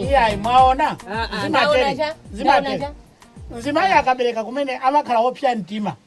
iyayi mwaona zimatele zimatele mzimayi akabereka kumene amakhala wopsa mtima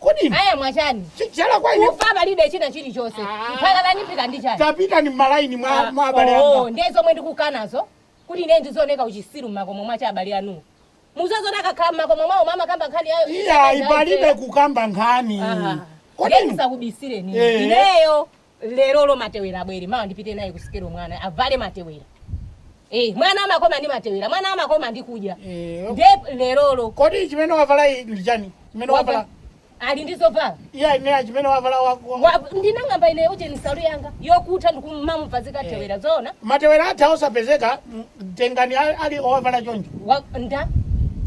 Kodi inu Aya mwachani? chichala kwa ine Kufa palibe china chilichonse. Ah. Mpaka nipita ndi chani? tapitani m'malaini mwa mwa abale Oh, anga. ndiye zomwe ndikukanazo kuti ine ndizioneka uchisiru mmakomo mwa abale anu. Muziona akakhala mmakomo mwawo mumakamba nkhani yayo. Iyayi palibe kukamba nkhani. Kodi Kodi inu? ndisakubisireni. Eh. Ineyo lerolo matewera abwere mawa ndipite naye ku sikelo mwana avale matewera Eh, mwana amakoma ndi matewera mwana amakoma ndi kudya Eh. nde lerolo kodi chimene wavala iyi ndi chani chimene wavala wava- ali ndi zovala iyeyu ineyo chimene wavala wako Wa- ndinang'amba ine uje nsalu yanga yokutha ndikumamuvazika tewera zoona matewera atha osapezeka m- tengani a- ali owavala choncho Wa- nde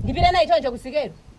ndipita naye choncho kusikelo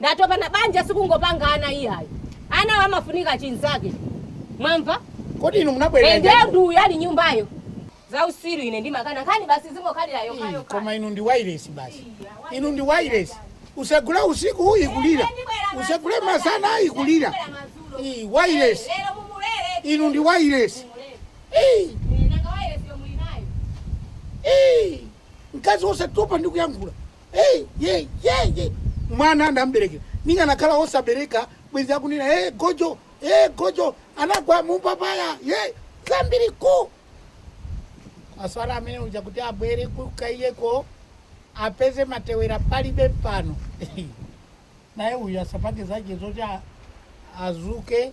Ndatopa na banja sikungopanga ana iyayi. Anawo amafunika chinzake. Mwamva? Kodi inu munabwerera Ende chani? ndi uyu ali m'nyumbayo. Za usiru ine ndimakana. Nkhani basi zingokhalira yokha Ii, yokha. Koma inu ndi wailesi basi. Inu ndi wailesi. Usagule usiku ikulira. Usagule masana ikulira. Ii, wailesi. Lero mumulere. Inu ndi wailesi. Ii, Nanga wailesi yomwe inayo. ii. Mkazi osatopa ndi kuyankhula. hey, hey, hey, hey. mwana ndamberekera ndikanakhala osabereka bwenzi akunena hey, gojo hey, gojo anagwa mupapaya hey, zambiri ku aswala amene uja kuti abwere kukaiyeko apeze matewera palibe pano naye uyu asapange zake zoti a- adzuke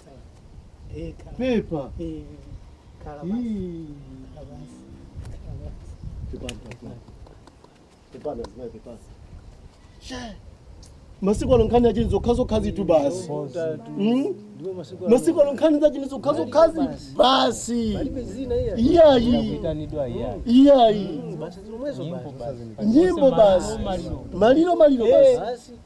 pepa masiku ano nkhani yachani zokhazokhazitu basi Mm? masiku ano nkhani zachani zokhazokhazi basi iyayi iyayi nyimbo basi maliro maliro basi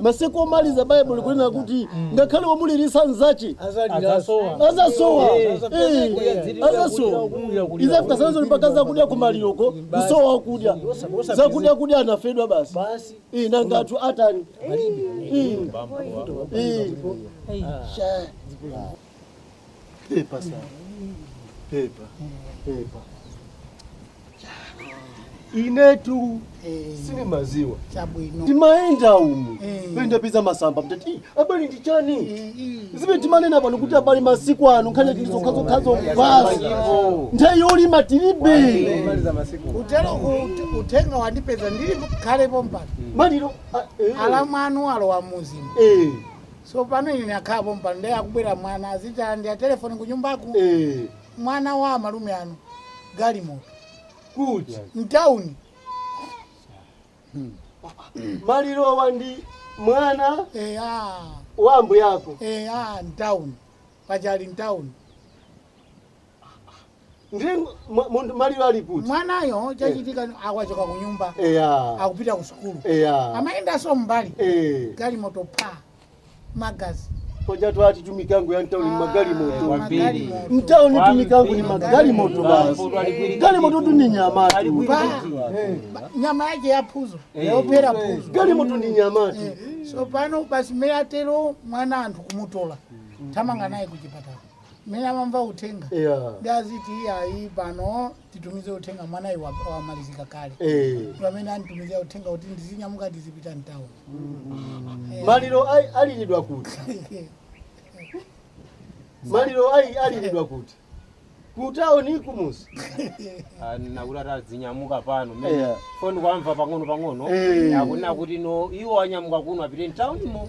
masiku omaliza baibulo likunena kuti ngakhale womuliritsa nzache azasowa azasowa izafika sizoni mpaka zakudya kumaliroko kusowa akudya zakudya kudya anafedwa basi basi Eh, nanga anthu atani Eh, eh. Sha. Pepa sana. Pepa. Pepa. Inetu sindimadziwa. Chabwino. Ndimayenda umu. Ndapeza masamba mtati. Abale ndi chani? Zimene timanena pano kuti abale masiku ano nkhani tili nazo zokhazokhazo basi. Nthawi yolima tilibe. Utero ku- uthenga wandipeza ndili khale pompano. Maliro. Alamu anu alowa mumzimu. Eh. So pano ine nakhala pompano nde akubwera mwana aziti andiya telephone kunyumbaku ee mwana wa amalume anu galimoto kuti mtown malirowa ndi mwana eya wa ambuye ako eya mtown pachali mtown ndiye mwa- munthu maliro ali kuti mwanayo chachitika amachoka ku nyumba eya akupita ku sukulu eya amayendanso mmbali Eh, galimoto pa magazi koja tati ndi mikango ya mtauni magalimoto Kwambiri. mtauni mikango ni magalimoto basi galimototu ni nyamatu Ba- nyama yake yaphuzo yophera phuzo galimoto ni nyamatu so pano basi mmene atero mwana anthu kumutola thamanga naye kuchipatala mmene amamva uthenga Yeah. ndi aziti iyayi pano titumize uthenga mwanayu wa- wamalizika kale Eh. Ndi pamene anditumizira uthenga kuti ndizinyamuka ndizipita mtauni maliro ai- aliridwa kuti maliro ai- aliridwa kuti kutaoni kumudzi ndakuti ati azinyamuka pano mene Yeah. ndikuwamva pang'ono pang'ono Eh. akunena kuti ndi iwo anyamuka kuno apite mtaunimo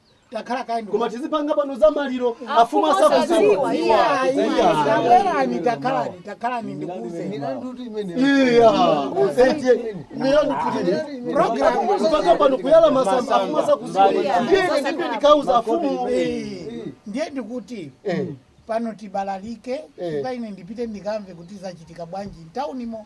takhalani kaye koma tizipanga pano za maliro amfumu asakudziwa takhalani takhalani takhalani ndikuuze kupanga pano kuyala masamba amfumu asakudziwa ndiyeni ndipo ndikauza amfumu ndiye ndikuti pano tibalalike Eh. kuti ine ndipite ndikamve kuti zachitika bwanji mtaunimo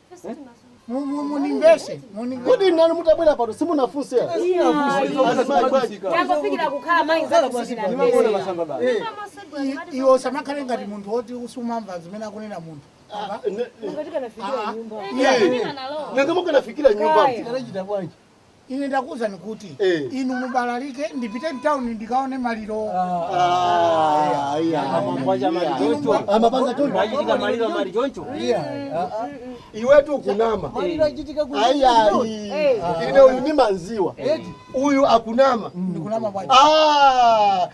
Mundimvetse, mundimvetse. Kodi nanu mutabwera pano simunafunse? Tangofikira kukhala mayi zako kufikira mbele. I- Iwe usamakhale ngati munthu woti usumamva zimene akunena munthu. Apa? Nanga mukanafikira nyumba. Ine ndakuuzani kuti Eh. inu mubalalike ndipite mtauni ndikaone maliro. Ah, ayi, ayi. Amapanga maliro choncho. Amapanga choncho. Mwachitika maliro muli choncho. Iwetu ukunama. Maliro achitika ku. Ayi, ayi. Ine uyu ndimamdziwa. Uyu akunama. Ndikunama bwanji. Ah,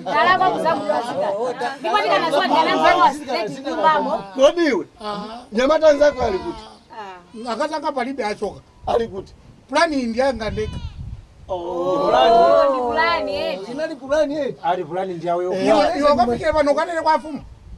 ndalakwa kuzamulosika ndipo ndikanaziwa ndikanaziwa sizeti nyumbamo kodi iwe nyamata anzako ali kuti akatanga palibe achoka ali kuti pulani iyi ndiyanga ndekha ndi pulani eti inali pulani eti ali pulani ndiyako iwe kapite pano ukanene kwa afumu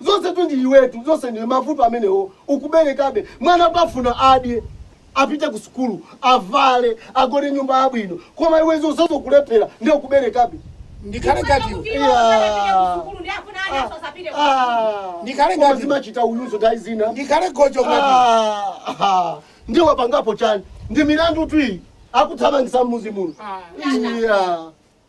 Zonse tu ndi iwetu, zonse ndi mavuto amenewo. Ukuberekabe mwana pafuna adye, apite ku sukulu, avale, agone nyumba yabwino, koma iwe zonsezo kulephera ndiye ukuberekabe. Ndikhale ngati iwe. Iya. Sukulu ndi yofuna ana Ah, asapite ku ah. Ndikhale Koma ngati- zimachita uyuzo nthawi zina. Ndikhale gojo ngati. Ah, ah. Ndiye wapangapo chani? Ndi milandu tu iyi. Akuthamangisa mmudzi muno. Ah. Iya.